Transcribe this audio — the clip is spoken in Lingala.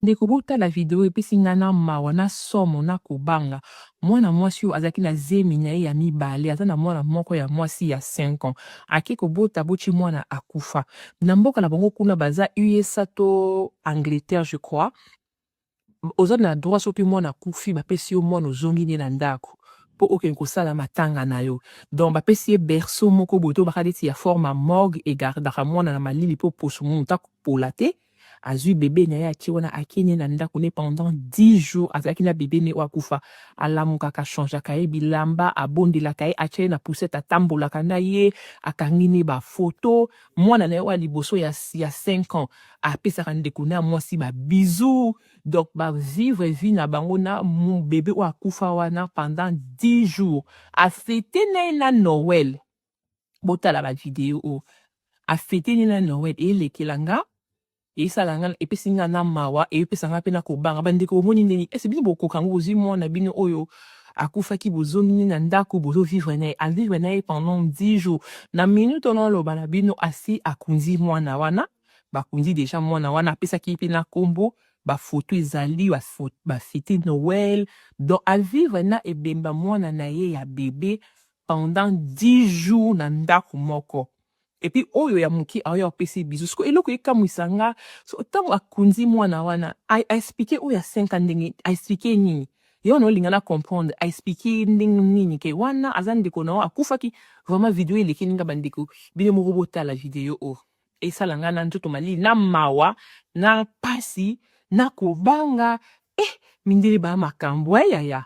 Ndeko botala video epesi nga na mawa na somo na kobanga mwana mwasi oyo azalaki na zemi na ye ya mibale aza na mwana moko ya mwasi ya 5 ans ake kobota botye mwana akufa na mboka na bango kuna baza usa to angleterre je crois oza na droit soki mwana akufi bapesi yo mwana ozongi nde na ndako mpo okende kosala matanga na yo donc bapesi ye berceau moko boye to bakadeti ya forme ya morgue egardaka mwana na malili mpo poso moto akopola te azui bebe na ye atie wana akie ne na ndako ne pendant 10 jours azalaki na bebe ne oyo akufa alamukaka changeaka ye bilamba abondelaka ye atia ye na poussette atambolaka na ye akangi ne bafoto mwana na ye oyo liboso ya, ya 5 ans apesaka ndeko na mwasi ba bisous donc ba vivre vie na bango na bebe oyo akufa wana pendant 10 jours afete na ye na noel botala ba video oyo afete nini na noel elekela nga esala nga epesi nga na mawa epesa nga mpe na kobanga bandeko bomoni ndeni ese bino bokoka yango bozwi mwana bino oyo akufaki bozongi ne na ndako bozovivre na ye avivre na ye pendant 10 jours na minute ono aloba na bino asi akunzi mwana wana bakunzi deja mwana wana apesaki ye mpe na nkombo bafoto ezali bafete noel donc avivre na ebemba mwana na ye ya bebe pendant dix jours na ndaku moko et puis oyo ya muke aoya apesi ye bisous sikoyo eloko ekamuisa nga so tangu akunzi muana wana a explique oyo ya cinq ans ndenge a explique ye nini ye wana olinga na comprendre a explique ye ndenge nini ke wana aza ndeko na yo akufaki vraiment video oyo elekeli nga ba ndeko bino moko botala video oyo esala nga na nzoto malili na mawa na pasi na kobanga eh mindele ba makambu eh yaya